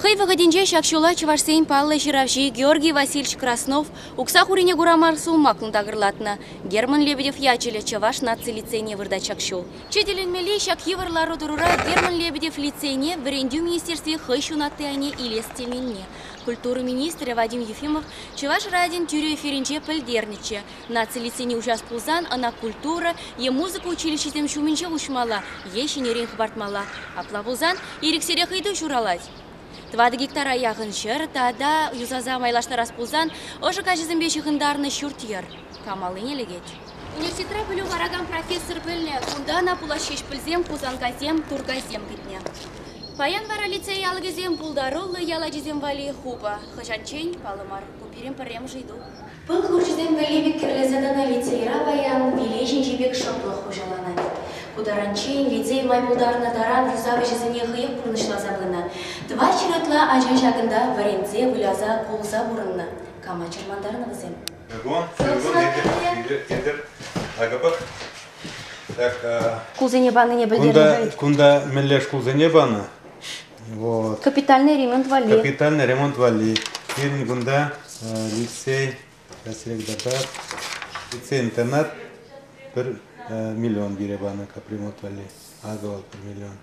Хӑй вӑхӑтӗнче ҫак ҫула чӑвашсен паллӑ ҫыравҫи Георгий Васильевич Краснов укса хурине кура мар сулмаклӑн такӑрлатнӑ. Герман Лебедев ячӗллӗ чӑваш наци лицейне выртать ҫак ҫул. Четӗленмелли ҫак йывӑр лару-тӑрура Герман Лебедев лицейне вӗрентӳ министерстви хӑй ҫунатти айне илес теменне культура министрӗ Вадим Ефимов Чӑваш радин тӳрӗ эфирӗнче пӗлтернӗччӗ, наци лицейне уҫас пулсан ӑна культура е музыка училищисем ҫумӗнче уҫмалла е ҫӗнӗрен хӑпартмалла. Апла пулсан ирӗксӗрех ыйту ҫуралать. Тӑватӑ гектара яхӑн ҫӗр тата юсаса майлаштарас пулсан ӑшӑ каҫӑсемпе ҫыхӑнтарнӑ ҫурт-йӗр кам аллине лекет? Университетра пӗлӳ паракан профессор пӗлнӗ, кунта ӑна пулас ҫеҫ пӗлсен Хусанкасем, Туркайсем кӗтнӗ. Паян вара лицей алӑкӗсем пултаруллӑ ял ачисем валли хупӑ. Хӑҫанччен паллӑ мар, ку пирӗн пӗрремӗш ыйту. Пыл хурчӗсем валли пек кӗрлесе тӑнӑ лицейра паян виле ҫинчи пек шӑплӑх хуҫаланать. Ку таранччен лицей май пултарнӑ таран юсав ӗҫӗсене хӑех пурнӑҫласа пынӑ. Тӑватҫӗр ытла ача ҫакӑнта вӗрентсе, выляса, кулса пурӑннӑ. Кама чӑрмантарнӑ вӗсем? Шкулсене панине пӗлтернӗ. Кунта мӗнле шкулсене панӑ? Вот. Капитальный ремонт валли. Капитальный ремонт валли. Пирӗн кунта лицей, сейчас регдатар, лицей-интернат 1 миллион пире панӑ капремонт валли. Акӑ вӑл 1 миллион.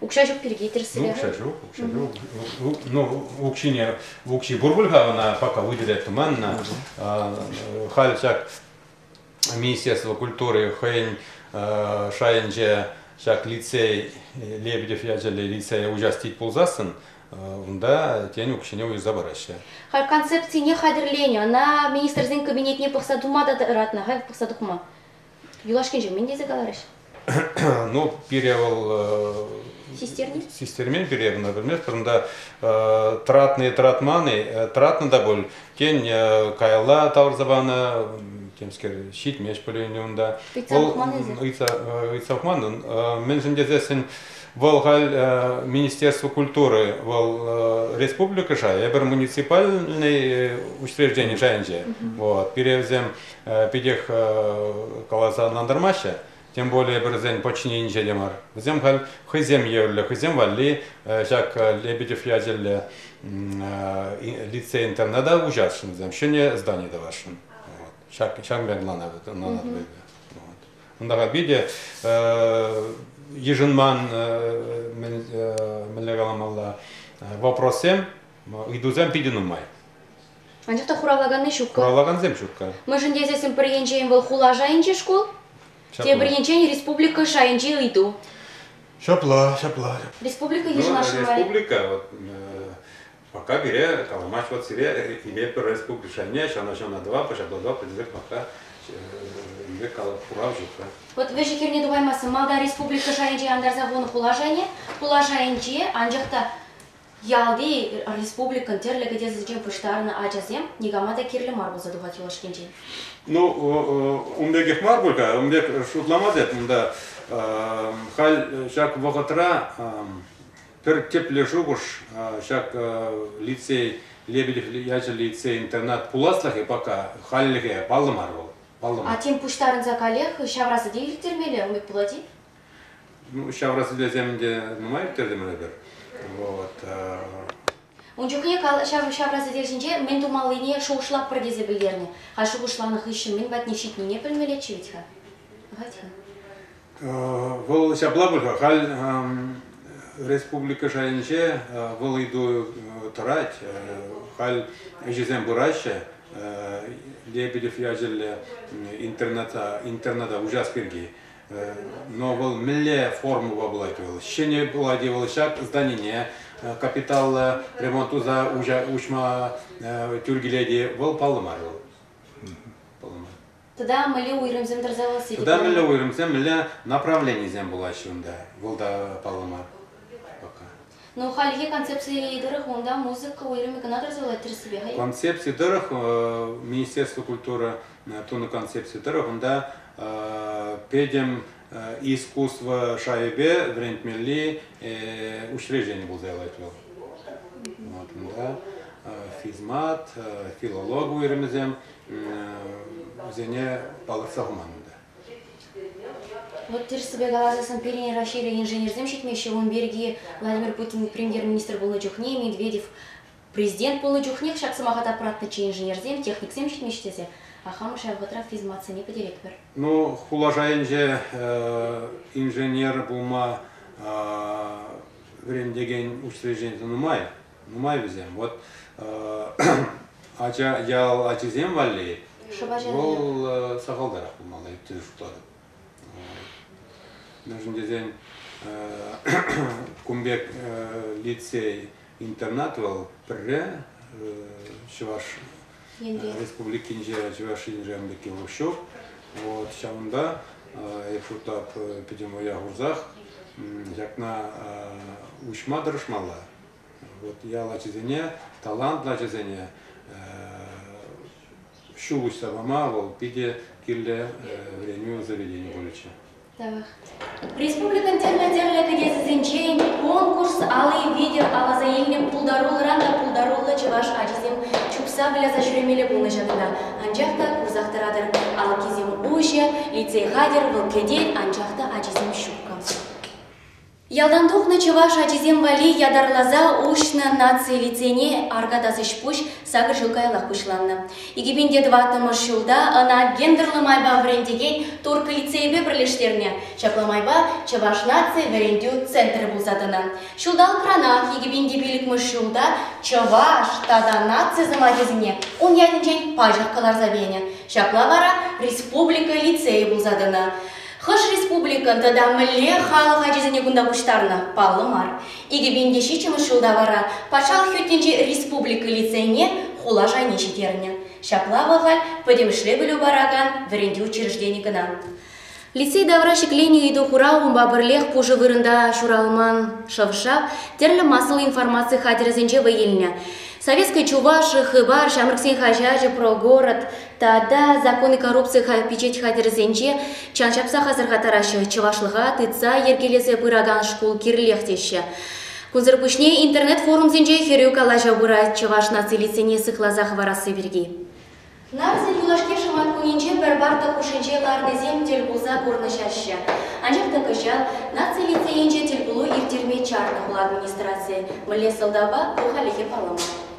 Укҫа ҫук пирки тӗрӗсрех. Укҫа ҫук, укҫа ҫук. Ну, укҫине, укҫи пур пуль-ха ӑна, пока выделять туманно. Халь ҫак Министерство культури хӑйӗн шайӗнче ҫак лицей, Лебедев ячӗллӗ лицее участить пулсассӑн, унта, тен, укҫине уйӑрса параҫҫӗ. Халь концепцине хатӗрленӗ, ӑна Министрсен Кабинетне пӑхса тума та ыратнӑ, халь пӑхса тухма. Юлашкинче мӗн тесе каларӗҫ? Ну, пире вӑл... Систерни? Систермен пире кӑна пӗлместпӗр. Унта тратный, тратманный, тратнӑ та пуль. Тен, каялла тавӑрса панӑ, темскер, ҫитмест пулин унта. Ыйтса пӑхман Ыйтса пӑхман. Мӗншӗн тесессӗн вӑл халь Министерство культуры, вӑл республика шайӗ, эпир муниципальный учреждени шайӗнче. Вот, пире вӗсем питех каласа ӑнлантармаҫҫӗ. Тем более вӗрсен подчиненинче те мар. Вӗсем халь хӑйсем евӗрлӗ, хӑйсем валли ҫак Лебедев ячӗллӗ лицей-интерна та уҫасшӑн вӗсем, ҫӗнӗ здани тӑвасшӑн. Ҫак ҫак мерлана ӑнланатпӑр. Унта питӗ йышӑнман мӗнле каламалла вопроссем Ыйтусем питӗ нумай. Анчах та хуравлаканни ҫук-ха. Хуравлакансем ҫук-ха. Мӗншӗн тесессӗн пӗр енчен вӑл хула шайӗнчи шкул, тепӗр енчен республика шайӗнчи ыйту. Ҫапла, ҫапла. Республика ну, йышӑнасшӑн мар. Республика, вот, пока пире каламасть, вот сире имеет пӗр республика шайне, ҫана ҫана два, пожаба два, предсек пока Инвек хурав ҫук-ха. Вот вӗҫӗ хирне тухаймастӑн. Малта республика шайӗнче антарса хунӑ хула шайне, хула шайӗнче, анчах та Ялти, республикӑн тӗрлӗ кӗтесӗсенчен пуҫтарӑннӑ ачасем никама та кирлӗ мар пулса тухать юлашкинчен. Ну, ун пекех мар пуль-ха, ун пек шутламас эп унта. Халь ҫак вӑхӑтра пӗр тӗплӗ шухӑш ҫак лицей, Лебедев ячӗллӗ лицей-интернат пуласлӑхӗ пока хальлӗхе паллӑ мар вӑл. Паллӑ мар. А тем пуҫтарӑнса каллех ҫавра сӗте ирттермелле, умӗт пулать-и? Ну, ҫавра сӗтелсем ӗнтӗ нумай ӳктертӗмӗр эпир. Вот. Ун чухне ҫав ҫавра сӗтел ҫинче мӗн тумаллине шухӑшлатпӑр тесе пӗлтернӗ. А шухӑшланӑ хыҫҫӑн мӗн патне ҫитнине пӗлмеллеччӗ вӗт-ха. Хать-ха. Вӑл ҫапла пуль-ха, халь республика шайӗнче вӑл ыйту тӑрать. Халь ӗҫӗсем пыраҫҫӗ. Лебедев ячӗллӗ интерната, интерната участк пирки. Но вӑл мӗнле формӑпа пулать вӑл? Ҫӗнӗ пулать-и вӑл ҫак зданине? Капиталлӑ ремонт туса уҫма тӳр килет-и? Вӑл паллӑ мар вӑл. Паллӑ мар. Тата мӗнле уйрӑмсем тӑрса вӑлсси Тата мӗнле уйрӑмсем, мӗнле направленисем пулаҫҫӗ унта? Вӑл та паллӑ мар пока. Ну, хальхи концепциленӗ тӑрӑх унта музыка уйрӑмӗ кӑна тӑрсалать тӗрӗссипе-ха Концепци тӑрӑх Министерство культуры тунӑ концепци тӑрӑх унта пӗтӗм искусство шайӗпе вӗрентмелли учреждени пулса явать вӑл. Вот, унта физмат, филолог уйрӑмӗсем вӗсене палӑртса хуман. Вот тӗрӗссипе каласан, пирӗн Раҫҫейре инженерсем ҫитмеҫҫӗ. Ун пирки Владимир Путин премьер-министр пулнӑ чухне, Медведев президент пулнӑ чухнех ҫак сӑмаха тапратнӑччӗ инженерсем, техниксем ҫитмеҫҫӗ тесе. Ахамӑш ҫав вӑхӑтра физматсене пӗтеретпӗр. Ну, хула шайӗнче инженер пулма вӗрентекен учреждени нумай. Нумай вӗсем. Вот ача ял ачисем валли вӑл сахалтарах пулмалла, ӳттен шутлатӑп. Мӗншӗн тесен кун пек лицей интернат вӑл пӗрре Чӑваш Республикинче Чӑваш Енре пекки вӑл ҫук. Вот ҫавӑнта Эйфутап пӗтӗм вӑя хурсах ҫакна уҫма тӑрӑшмалла. Вот ял ачисене, талантлӑ ачасене ҫул уҫса пама вӑл питӗ кирлӗ вӗренӳ заведени пулӗччӗ. Так. Республикӑн тӗрлӗ-тӗрлӗ кӗтесӗсенчен конкурс алли витӗр аласа илнӗ пултаруллӑран та пултаруллӑ чӑваш ачисем чупса выляса ҫӳремелле пулнӑ ҫакна. Анчах та курсах тӑратӑр, алкисем уҫӑ, лицей хатӗр, вӑл кӗтет, анчах та ачисем ҫукка. Ялтан тухнӑ чӑваш ачисем валли ятарласа уҫнӑ наци лицейне аркатас ӗҫ-пуҫ сакӑр ҫул каяллах пуҫланнӑ. Икӗпинте тӑваттӑмӗш ҫулта ӑна гендерлӑ майпа вӗрентекен турккӑ лицейӗпе пӗрлештернӗ. Ҫапла майпа Чӑваш наци вӗрентӳ центрӗ пулса тӑнӑ. Ҫулталӑкранах икӗпинти пилӗкмӗш ҫулта чӑваш тата наци сӑмахӗсене ун ятӗнчен паҫӑрккӑ ларса пенӗ. Ҫапла вара республика лицейӗ пулса тӑнӑ. Хӑш республикӑн тата мӗнле халӑх ачисене кунта пуҫтарнӑ паллӑ мар. Икӗ пин те ҫиччӗмӗш ҫулта вара патшалӑх ӳтнинчи республика лицейне хула шайне ҫитернӗ. Ҫапла вӑхӑт пӗтӗмӗшле пӗлӳ паракан вӗрентӳ учреждени кӑна. Лицей тавра ҫӗкленӗ ыйту хурав унпа пӗрлех пушӑ вырӑнта ҫуралман шӑв-шав, тӗрлӗ массӑллӑ информаци хатӗрӗсенче вӑй илнӗ. Советская Чувашия, Хыпар, Ҫамрӑксен хаҫачӗ про город, Тата закон коррупци пичет хатӗрӗсенче чан ҫапсах асӑрхаттараҫҫӗ. Чӑвашлӑха тытса йӗркелесе пыракан шкул кирлех теҫҫӗ. Кунсӑр пуҫне интернет-форумсенче хӗрӳ калаҫу пырать чӑваш нацилисене сыхласа хӑварасси пирки. Нарзин юлашки шӑматкунӗнче пӗр парта хушшинче ларнисем тӗл пулса курнӑҫаҫҫӗ. Анчах та кӑҫал наци лицейӗнче тӗлпулу ирттерме чарнӑ хула администрацийӗ. Мӗнле сӑлтавпа ку хальлӗхе паллӑ мар.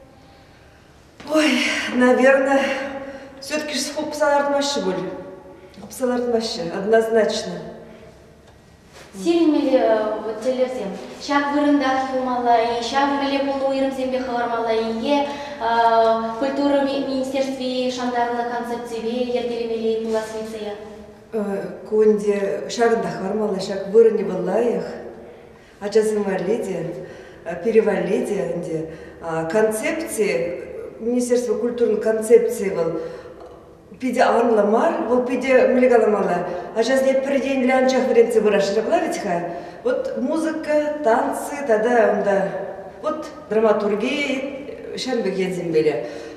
Ой, наверное, все-таки хупса лартмаҫҫӗ пуль. Хупса лартмаҫҫӗ, однозначно. Сирӗнмелле вот тӗллевсем. Ҫак вырӑнтах юлмалла-и, ҫав мӗнле пулнӑ уйрӑмсемпе хӑвармалла-и е культура министерстви шантарнӑ концепципе йӗркелемелле пулас лицея? Ку ӗнтӗ ҫакӑнта хӑвармалла, ҫак вырӑнне вӑл лайӑх. ачасем валли те, пире валли те ӗнтӗ. Концепци, министерство культурин концепцийӗ вӑл питӗ анлӑ мар, вӑл питӗ мӗнле каламалла, ачасене пӗр енлӗ анчах вӗрентсе пыраҫҫӗ вӗт-ха. Вот музыка, танцы тата унта вот драматурги, ҫамрӑк енсемпеле.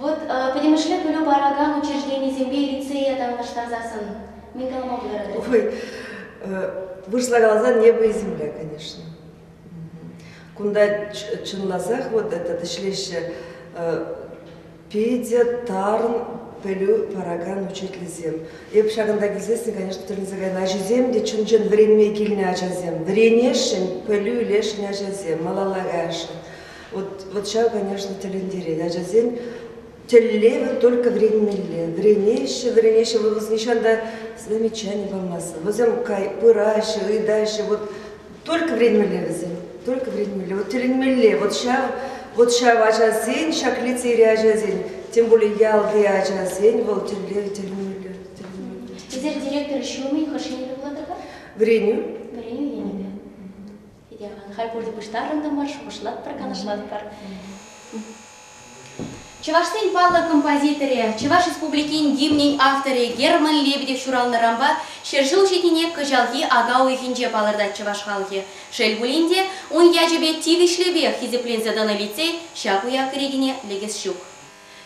Вот пӗтӗмӗшле пӗлӳ паракан учрежденисемпе лицее танлаштарсассӑн мӗн калама пултаратӑр? Ой, вырӑсла каласан небо и земля, конечно. Кунта чӑнласах вот этот ӗҫлеҫҫӗ питӗ тарӑн пӗлӳ паракан учительсем. Эп ҫакӑнта килсессӗн, конечно, тӗлӗнсе кайнӑ. Ачисем те чӑн-чӑн вӗренме килнӗ ачасем. Вӗренесшӗн, пӗлӳ илесшӗн ачасем, малалла каясшӑн. Вот, ҫав, конечно, тӗлӗнтерет. Ачасем тӗллевӗ только вӗренмелле. Вӗренеҫҫӗ, вӗренеҫҫӗ, вӑл нихҫан та замечаний памастӑн. Вӗсем пыраҫҫӗ, ыйтаҫҫӗ, вот только вӗренмелле вӗсем, только вӗренмелле, вот тӗлӗнмелле, вот ҫав, вот ҫав ачасен, ҫак лицейри ачасен, тем более ялти ачасен вӑл тӗллев тӗлӗнмелле. Эсир директор ҫумӗн хӑш енӗпе пулатӑр-ха? Вӗренӳ. Вӗренӳ енӗпе. Итяман, халь пурте пуҫтарӑнтӑмӑр, шухӑшлатпӑр, канашлатпӑр. Чӑвашсен паллӑ композиторӗ, Чӑваш Республикин гимнӗн авторӗ Герман Лебедев ҫуралнӑранпа ҫӗр ҫул ҫитнине кӑҫалхи ака уйӑхӗнче палӑртать чӑваш халӑхӗ. Шел пулин те, ун ячӗпе тивӗҫлӗпех хисепленсе тӑнӑ лицей ҫак уяв кӗрекине лекес ҫук.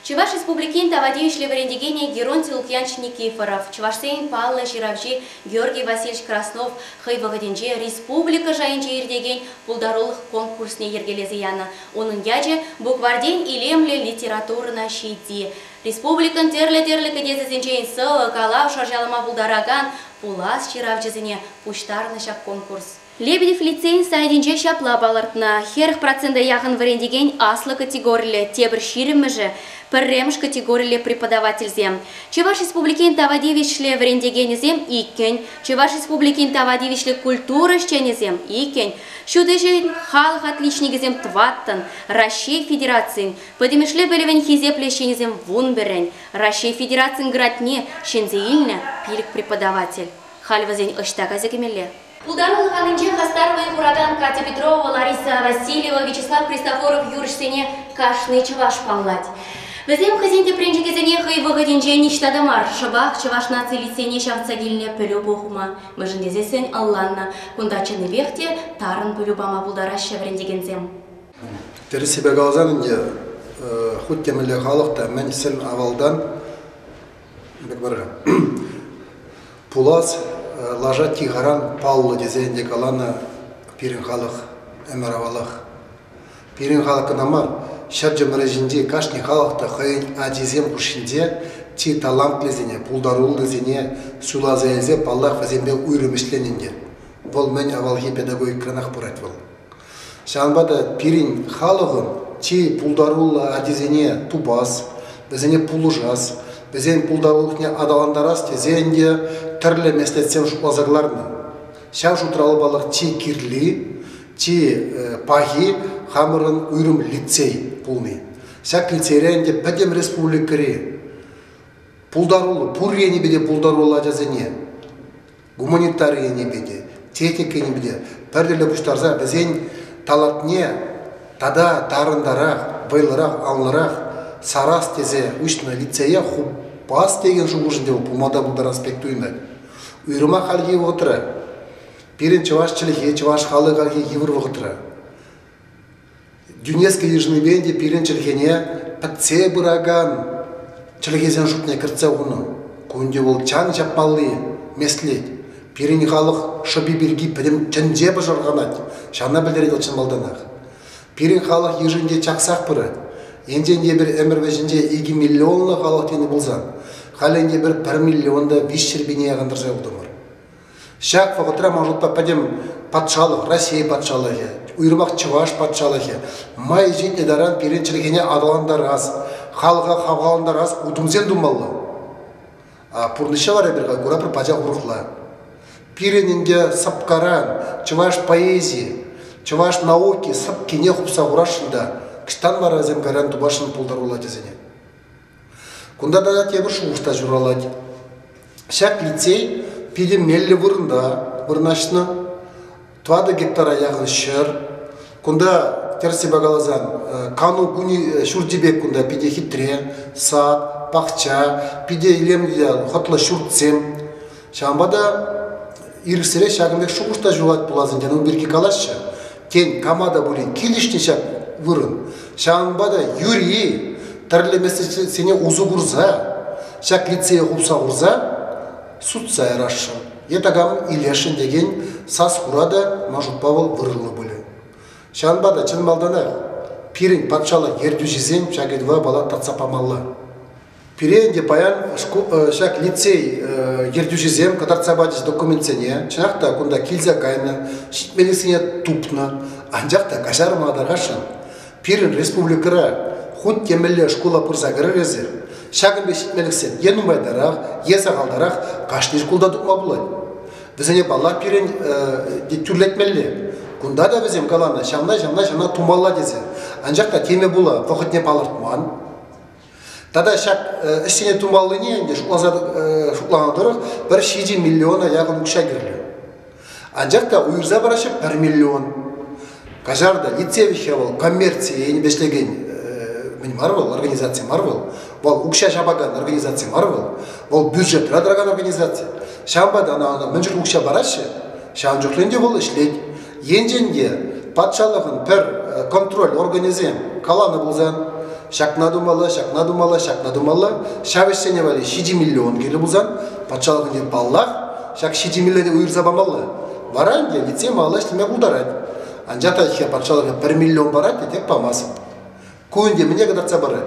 Чӑваш Республикин тава тивӗҫлӗ вӗрентекенӗ Геронтий Лукьянч Никифоров, чӑвашсен паллӑ ҫыравҫи Георгий Васильевич Краснов хӑй вӑхӑтӗнче республика шайӗнче иртекен пултарулӑх конкурсне йӗркелесе янӑ, унӑн ячӗ букварьтен илемлӗ литературӑна ҫити, республикӑн тӗрлӗ-тӗрлӗ кӗтесӗсенчен сӑвӑ, калав шӑрҫалама пултаракан пулас ҫыравҫӑсене пуҫтарнӑ ҫак конкурс. Лебедев лицейӗн сайтӗнче ҫапла палӑртнӑ, хӗрӗх процента яхӑн вӗрентекен аслӑ категориллӗ, тепӗр ҫирӗммӗшӗ, пӗрремӗш категориллӗ преподавательсем. Чӑваш Республикин тава тивӗҫлӗ вӗрентекенӗсем иккӗн, Чӑваш Республикин тава тивӗҫлӗ культура ӗҫченӗсем иккӗн, ҫут ӗҫӗн халӑх отличникӗсем тӑваттӑн, Раҫҫей Федерацин пӗтӗмӗшле пӗлӗвӗн хисеплӗ ӗҫченӗсем вунпӗррӗн, Раҫҫей Федерацин градне ҫӗнсе илнӗ пилӗк преподаватель. Халь вӗсен ӑҫта кайса кӗмелле? Пултарулӑх анинче хастар вӑй хуракан Катя Петрова, Лариса Васильева, Вячеслав Христофоров юрӑҫсене кашни чӑваш паллать. Вӗсем хӑйсен тӗпренчӗкӗсене хӑй вӑхӑтӗнче ниҫта та мар, шӑпах чӑваш наци лицейне ҫавӑтса килнӗ пӗлӳ пухма, мӗншӗн тесессӗн ӑлланнӑ. Кунта чӑннипех те тарӑн пӗлӳ пама пултараҫҫӗ вӗрентекенсем. Тӗрӗссипе каласан ӗнтӗ, хуть темӗнле халӑх та мӗн сӗн авалтан пулас лаша тихаран паллӑ тесе ӗнтӗ каланӑ пирӗн халӑх ӗмӗр авалах. Пирӗн халӑх кӑна мар, ҫӗр чӑмӑрӗҫинчи кашни халӑх та хӑйӗн ачисем хушшинче чи талантлисене, пултаруллисене суйласа илсе, паллах, вӗсемпе уйрӑм ӗҫленӗ ӗнтӗ. Вӑл мӗн авалхи педагогикӑранах пырать вӑл. Ҫавӑнпа та пирӗн халӑхӑн чи пултаруллӑ ачисене тупас, вӗсене пулӑшас, вӗсен пултарулӑхне аталантарас тесен те тӗрлӗ меслетсем шутласа кӑларнӑ. Ҫав шутра палӑк чи кирли, чи пахи хамӑрӑн уйрӑм лицей пулни. Ҫак лицейрен те пӗтӗм республикӑри пултаруллӑ, пур енӗпе те пултаруллӑ ачасене гуманитари енӗпе те, техника енӗпе те пӗртӗллӗ пуҫтарса вӗсен талантне тата тарӑнтарах, вӑйлӑрах, анлӑрах сарас тесе уҫнӑ лицее хупас текен шухӑшӗнче вӑл пулма та пултарас пек туйӑнать. Уйрӑмах хальхи вӑхӑтра пирӗн чӑваш чӗлхи, чӑваш халӑх хальхи йывӑр вӑхӑтра. Дюнецке йышӑнипе те пирӗн чӗлхене пӗтсе пыракан чӗлхесен шутне кӗртсе хунӑ. Кун те вӑл чан ҫапмалли меслет. Пирӗн халӑх шӑпи пирки пӗтӗм тӗнче пӑшӑрханать, ҫавна пӗлтерет вӑл чӑн малтанах. Пирӗн халӑх йышӗнче чаксах пырать. Енчен те эпир ӗмӗр вӗҫӗнче икӗ миллионлӑ халӑх тенӗ пулсан, халь ӗнтӗ эпир пӗр миллион та виҫ ҫӗрпине якӑнтарса утӑмӑр. Ҫак вӑхӑтра, ман шутпа, пӗтӗм патшалӑх, Раҫҫей патшалӑхӗ, уйрӑмах Чӑваш патшалӑхӗ май ҫитнӗ таран пирӗн чӗлхене аталантарас, халӑха хавхалантарас утӑмсем тумалла. А пурнӑҫа вара эпир куратпӑр пачах урӑхла. Пирӗн ӗнтӗ сӑпкаран чӑваш поэзийӗ, чӑваш науки сӑпкине хупса хурасшӑн та, ӑҫтан вара вӗсем кайран тупасшӑн пултаруллӑ ачасене? Кунта тата тепӗр шухӑш та ҫуралать. Ҫак лицей питӗ меллӗ вырӑнта вырнаҫнӑ. Тӑватӑ гектара яхӑн ҫӗр. Кунта, тӗрӗсипе каласан, э, кану кунӗ ҫурчӗ пек кунта питӗ хитре. Сад, пахча, питӗ илемлӗ хӑтлӑ ҫуртсем. Ҫавӑнпа та ирӗксӗрех ҫакӑн пек шухӑш та ҫухать пулас ӗнтӗ, ну пирки калаҫҫӗ. Тен, кама та пулин килӗшнӗ ҫак вырӑн. Ҫавӑнпа та юри тӗрлӗ меслетсене усӑ курса, ҫак лицее хупса хурса сутса ярасшӑн е такам илесшӗн текен сас-хура та, мӑшутпа вӑл вырӑнлӑ пулӗ. Ҫавӑнпа та чӑн малтанах пирӗн патшалӑх ертӳҫисем ҫак ыйтӑва пала татса памалла. Пире ӗнтӗ паян ҫак лицей ертӳҫисем кӑтартса пачӗҫ документсене. Чӑнах та кунта килсе кайнӑ, ҫитменлӗхсене тупнӑ, анчах та каҫарматӑрахшӑн пирӗн республикӑра хуть темӗнле шкула пырса кӗрӗр эсир. Ҫакӑн пек ҫитменлӗхсем е нумайтарах, е сахалтарах кашни шкулта тупма пулать. Вӗсене паллах пирӗн тӳрлетмелле. Кунта та вӗсем каланӑ ҫавна, ҫавна, ҫавна тумалла тесе. Анчах та теме пула вӑхӑтне палӑртман. Тата ҫак ӗҫсене тумаллине ӗнтӗ шутланӑ тӑрӑх пӗр ҫичӗ миллиона яхӑн укҫа кирлӗ. Анчах та уйӑрса параҫҫӗ пӗр миллион. Каҫар та, лицей вӗҫе вӑл коммерци енӗпе ӗҫлекен мӗн мар вӑл, организаци мар вӑл. Вӑл укҫа ҫапакан организаци мар вӑл. Вӑл бюджетра тӑракан организаци. Ҫавӑнпа та ӑна мӗн чух укҫа параҫҫӗ, ҫавӑн чухлӗн те вӑл ӗҫлет. Енчен те патшалӑхӑн пӗр контроль органӗсем каланӑ пулсан, ҫакна тумалла, ҫакна тумалла, ҫакна тумалла, ҫав ӗҫсене валли ҫичӗ миллион кирлӗ пулсан, патшалӑхӑн те паллах, ҫак ҫичӗ миллионе уйӑрса памалла. Вара ӗнтӗ лицей малалла ӗҫлеме пултарать. Анчах та ӗҫке патшалӑхӑн пӗр миллион парать те тек памасть. Ку ӗнтӗ мӗне кӑтартса парать?